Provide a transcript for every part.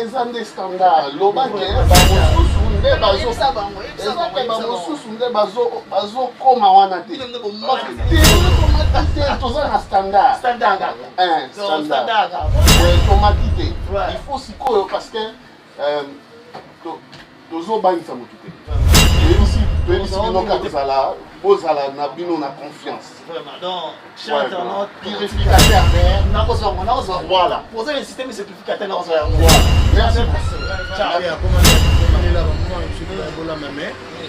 eza nde standard loba ke bamosusu nde bazoezake bamosusu nde bazokoma wana te toza na standard tomati te il faut sikoyo parce que Euh, tozobangisa motu te toyebisi toyebisi bino kaka kozala bozala na bino na confiance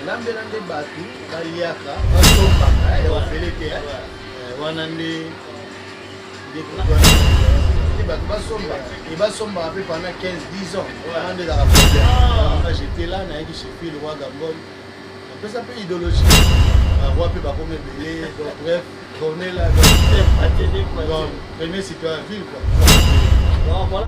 lambela nde bato baliaka basombaka ya ofele te wana nde bato basomba e basombaka mpe pendant 15 10 ans wana nde ezaka problème j'étais là nayaki chez fil roi gambol apesa mpe idéologie baroi mpe bakomi ebele donc bref cornela premier citoyen ville quoi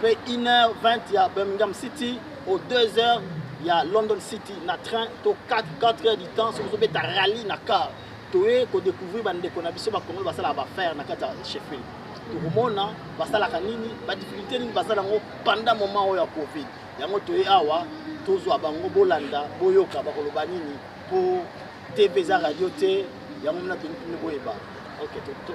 pe 1h20 ya Birmingham City au 2h ya London City na train to 4 4h du temps soki ozobeta rallye na car toye kodécouvrir bandeko na biso bakongolo basalaka bafaire na kati ya sheffield tokomona basalaka nini badifficulté nini baza nango pendant moment oyo ya covid yango toye awa tozwa bango bolanda boyoka bakoloba nini mpo tv eza radio te yango mna toni boyeba ok to, to.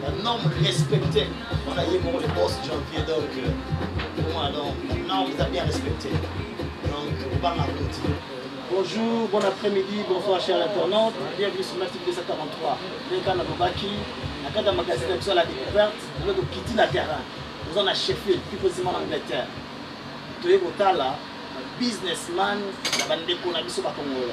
Un homme respecté. On a eu pour les boss janvier, donc euh, pour moi, donc, non, vous avez bien respecté. Donc, on va l'applaudir. Bonjour, bon après-midi, bonsoir chers internautes, bienvenue sur Matic 243. Leka na Bobaki, na kata magazine na biso ya la découverte, na loto kiti na terrain. Nous en a chefé, plus précisément en Angleterre. Toye kotala businessman na bandeko na biso bakongolo.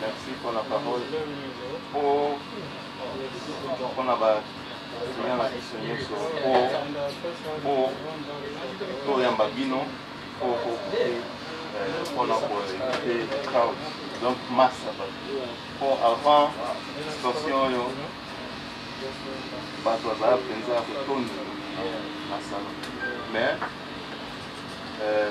Merci pour la parole. Pour, pour la parole. Seigneur na biso nyonso mpo toyamba bino mpo kokupe mpona koevite crowd donc masse ya bato mpo avant situation oyo bato bazala mpenza kotondi na sala mais euh,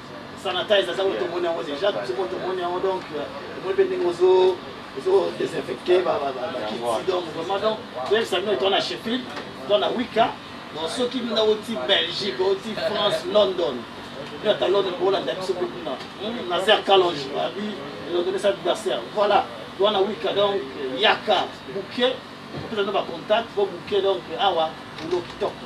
sanitize aza oyo tomoni yango deja biso moko tomoni yango donc tomoni mpe ndenge ozo ozo désinfecte bakiti donc vraiment donc toyebisa bino etona sheffield to na wika donc soki bino oti belgique oti france london bino ata london bolanda biso mpe kuna na zer calonge abi elondonesa adversaire voilà wana wika donc yaka buke opesa bino bacontact po buke donc awa ulo kitoko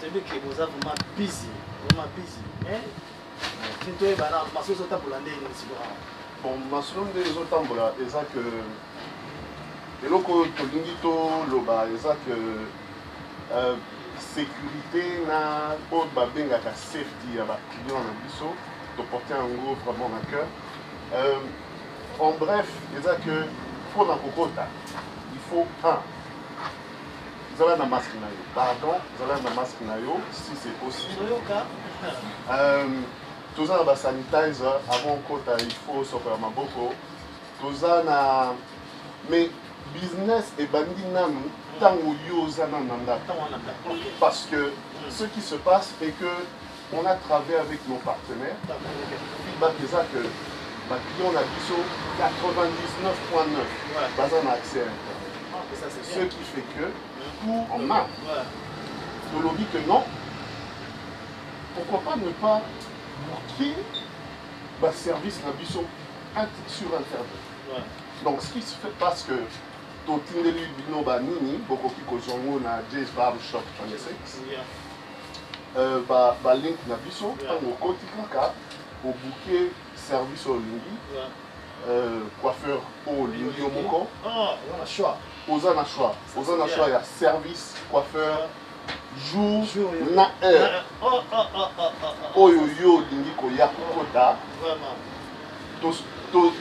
Tebeke boza vraiment busy, vraiment busy. Mais tinto e bana maso zo tabola ndenge ni sikoyo. Bon, maso ndenge zo tambola eza que eloko oyo tolingi toloba eza que euh, sécurité na oyo babengaka safety ya baclient na biso toporte yango vraiment na cœur euh, en bref eza que mpo na kokota il faut un Zala na masque na yo. Pardon, zala na masque na yo si c'est possible. Euh, toza na ba sanitizer avant kota il faut sokola maboko. Toza na mais business ebandi nanu ntango yo oza nanu na ndako parce que ce qui se passe est que On a travaillé avec nos partenaires. Feedback est ça que ma client a biso 99.9 baza na accès à Internet. Ce qui fait que tout en main. Tolobi que non. Pourquoi pas ne pas bloquer le service na biso sur Internet. Donc ce qui se fait parce que totindeli bino banini bokoki kozwa yango na js barb shop 26 euh, ba, ba link na biso ntango yeah. okoti kaka obuke service oyo olingi yeah. euh, coiffeur oyo olingi yo moko ah, oza na choix oza na choix ya service coiffeur yeah. jour, jour na heure ah, oh, oh, oh, oh, oh, oh. oyo yo olingi koya kokota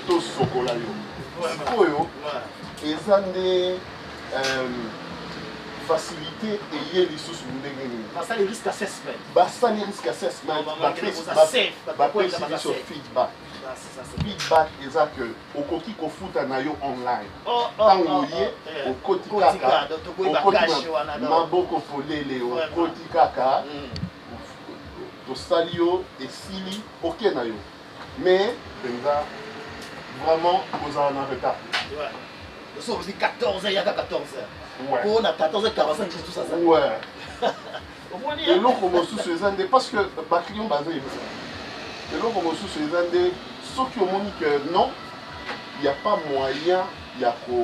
tosokola to, to yo sikoyo eza nde facilité eye lisusu ndenge nini basali risk assessment basali risk assessment bapesi biso feedback feedback eza que okoki kofuta na yo online ntango oye okoti kaka maboko polele okoti kaka tosali yo esili oke na yo Mais, Benza, vraiment, vous en avez retard. Ouais. Nous sommes 14h, il y a 14h. Ouais. Pour on a 14h45, c'est tout ça. ça. Ouais. eloko mosusu eza nde parce que baclient baza ebisa eloko mosusu eza nde soki omoni que non il n'y a pas moyen ya ko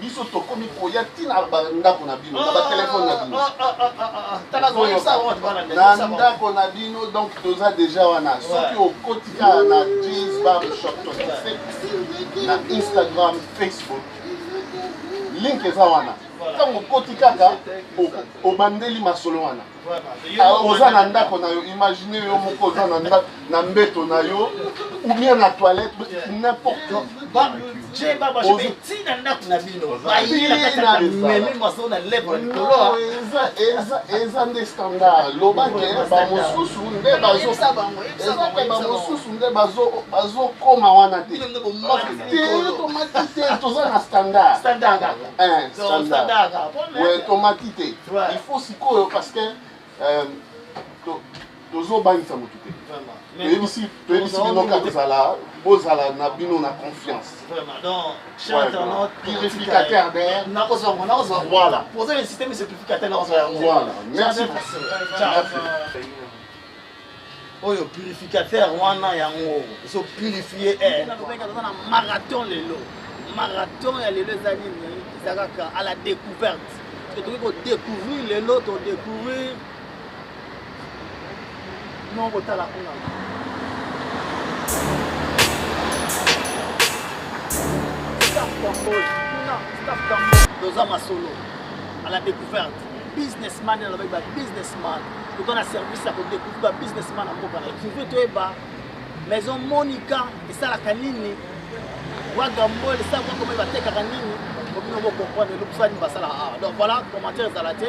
biso tokomi koya ntina bandako na bino na batelefone na bino na ndako na bino donc toza deja wana soki okotika na jeans barbershop na instagram facebook link eza wana ntango okoti kaka obandeli masolo wana Ah, oza na ndako na yo imagine yo moko oza na ndako na mbeto na yo ou bien na toilette n'importe eza nde standard lobake bamosusu nde bamosusu nde bazokoma wana te tomati te toza na standard eh, tomati te il faut sikoyo parce que euh, tozobangisa motu te toyebisi bino kaka kozala bozala na bino na confiance purificateur voilà merci oyo purificateur wana yango ezo purifie eh. na marathon lelo marathon ya lelo eza nini eza kaka à la découverte que tokoki kodécouvrir lelo todécouvrir no kotala kuna toza masolo à la découverte businessman na ba businessman toza na service ya kodecouvrir ba businessman na mboka na kivu toyeba maison monica esalaka nini wagambol esalaka koma batekaka nini obino bokomprendre elobisa nini basalaka awa donc voilà commentaire ezala te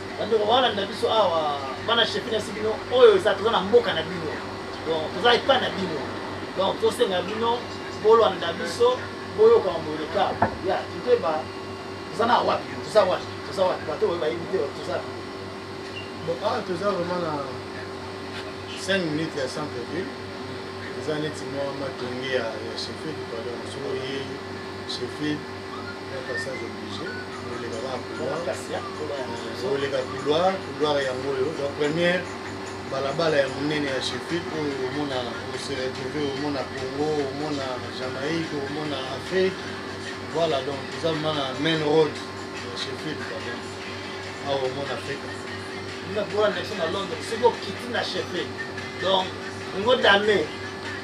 bandeko balanda biso awa bana chefine ya sibino oyo eza toza na mboka na bino donc toza epa na bino donc tosenga bino bolanda biso boyoka mamboleka ya totoyeba toza na wapi toza wapi toza wapi bato oyo bayebi te toza bon awa ah, toza vraiment na 5 minutes ya centre ville eza neti mwa matonge ya chefile pardon soko ye chefile koleka couloir couloir yango oyo donc première balabala ya monene ya shefik oyo omona ose retrouve omona congo omona jamaïque omona afrique voilà donc eza mana main road ya shefik donc awa omona afrique na droit na biso na londres soki okiti na shefik donc ngo dame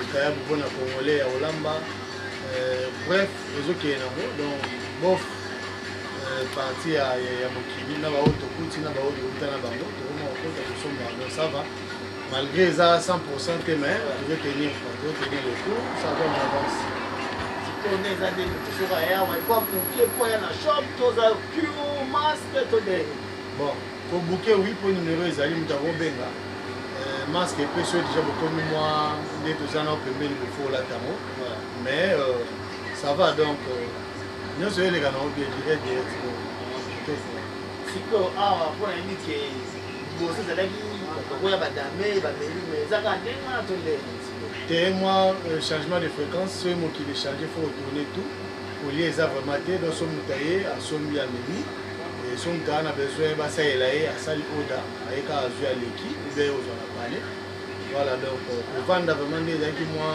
Likayabu mpo na Congolais ya Olamba. Euh, bref, ezokende nango donc bof euh, parti ya mokili na baoyo tokuti na baoyo tokuta na bango tokoma kokota kosomba yango sava malgré eza 100 pourcent te mais tozo tenir tozo tenir le cour ça va en avance tone eza nde tosoka yawa ekwa kokie mpo ya na shop toza pure masque todee bon Ko bouquet oui mpo numero ezali moto akobenga euh, masque epesi oyo deja bokomi mwa nde toza nao pembeni bofo olata yango mais euh, ça va donc euh, nyonso eleka nango bien direct direct sikoyo awa ah, mpo nayebi ke liboso ezalaki kokoya badame bameli mais ezaka ndenge wana to ndenge te mwa changement de fréquence soki mokili change fo otourne tout olie eza vraiment te donc so moto aye asombi ameli Sumta na besoin basalela ye asali oda aye kaka azwi aleki ube ozwa na pale voilà donc kovanda vraiment nde ezalaki mwa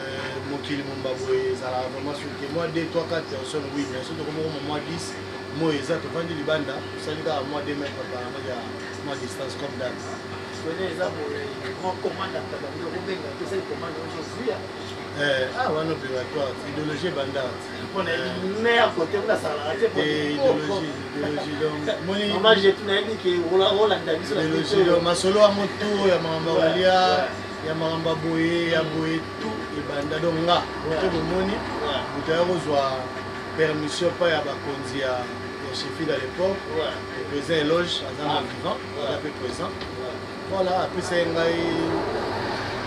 euh, mokili momba boye ezalaka vraiment soki mwa 2 3 4 personne oui mais soki tokomi koma mwa 10 moi eza tovandi libanda tosali kaka mwa 2 mètre apparemment ya mwa distance comme dal eza boye mwa commande atabandi okobenga tosali commande ozozuya ah wana obligatoire idéologie ebandaka masolo yango tour ya makambo ya kolia ya makambo ya boye ya boye tu ebanda donc nga moto bomoni moto ya kozwa permission epai ya bakonzi ya chefile à l'époque le président eloge aza na vivant aza mpe présent Voilà, apesa ye ngai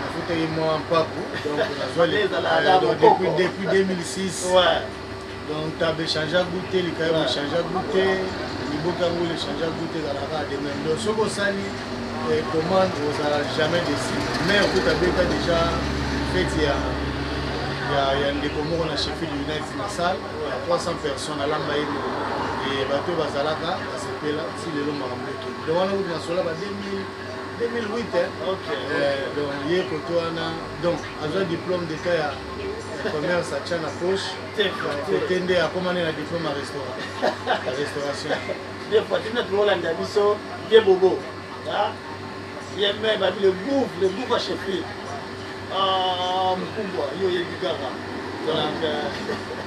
afutaki mwa mpaku donc nazwa depuis 2006 ouais. donc tabe change ya goute likaye ouais. bochange ya goute liboki yango lechange ya goute ezalaka demain donc soki osali eh, commande ozala jamais desi mais okuta beta déjà feti ya ya ndeko moko na sheffield united na salle ya 300 personnes alamba ye eh, bato bazalaka basepela si lelo makambo ekende donc wana kutu nasola ba 2008 donc ye koto wana donc azwa diplôme d'etat ya commerce atya na poche kote nde akomani na diplôme ya restauration des fois tina tololanda biso ye bobo yeme babi le gouve le gouve a chefi ah, mkumbwa yo oyebi kaka donc euh,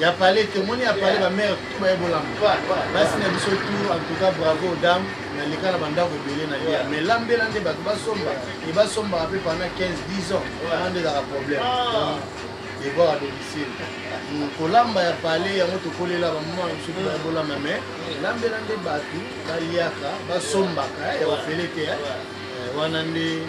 ya pale tomoni ya pale bamere tout baye bolamba basi na biso tout en tout cas bravo dame naleka na bandako ebele na lia mais lambela nde bato basomba e basombaka mpe pendant 15 10 ans wana nde ezaka problème devoir à domicile kolamba ya pale yango tokolela bamama na biso baye bolamba mais lambela nde bato baliaka basombaka ya ofele te wana nde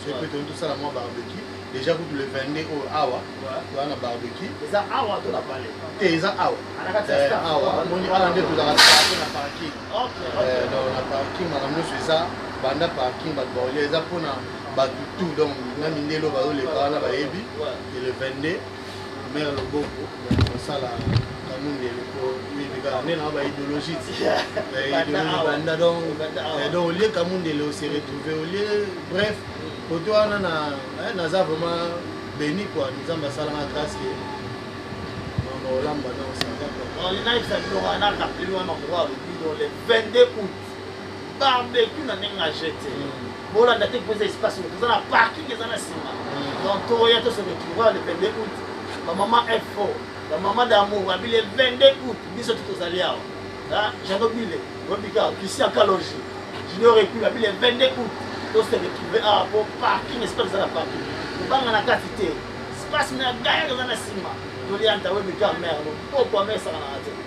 soki mpe toni tosala mwa barbecue déjà kutu le 22 oyo awa toza na barbecue eza awa to na pale te eza awa eh, awa moni wana nde tozalaka tozalaka na parking eh, donc na parking makambo nyonso eza banda parking bato baolia eza mpona bato tout donc na mindelo bazoleka wana bayebi le 22 mère loboko osala kamundele po mibika nde na ba idéologie ti idéologie banda donc donc olie kamundele ose retrouve olie bref koto wana na naza vraiment béni quoi nzambe asalanga grâce ke mama olamba na osanga quoi on a exagéré on a rappelé on a le 22 août barbecue na ndenge na jeu te bolanda te mpo eza espace moto eza na parking eza na nsima donc toya to se retrouva le 22 août bamama fo bamama damour babile 22 août biso ti tozali awa jado bile obika christian kaloji junior epi babile 22 août to se retrouve awa mpo parking espace eza na parking kobanga na kati te espace na gaya eza na nsima tolianta webika mare loboko amesaka na radio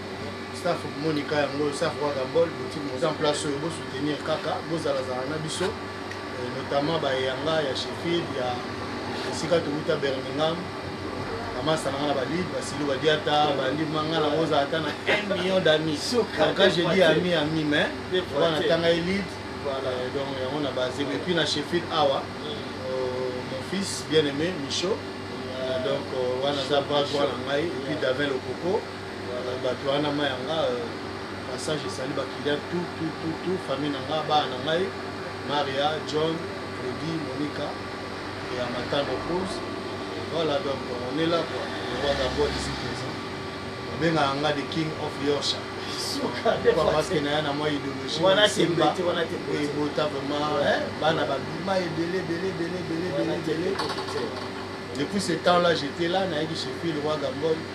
staff monika yango oyo staff kaka bol boutique moza en place oyo bosoutenir kaka bozalazala na biso euh, notamment bayanga ya sheffield ya esika towuta birmingham bamasa nanga na balide basili badiata balimanga na oza ata na 1 million d'amis quand je dis ami ami mais wana tanga elide euh, donc yango na base mais puis na sheffield awa mm. euh, mon fils bien aimé michaud donc wana aza bras droit na ngai epuis davin lokoko bato wana ma yanga euh, passage esali bakiliya tout tout tout tout famille na nga bana na ngai maria john redi monica ya matano rose voilà donc on est là quoi le roi d'abord ici présent babengaka nga the king of yorshire maske na ya na mwa idéologiebota vraiment bana babima ebele ebele ebele ebele ebele depuis ce temps là j'étais là nayaki chez fil roi gambol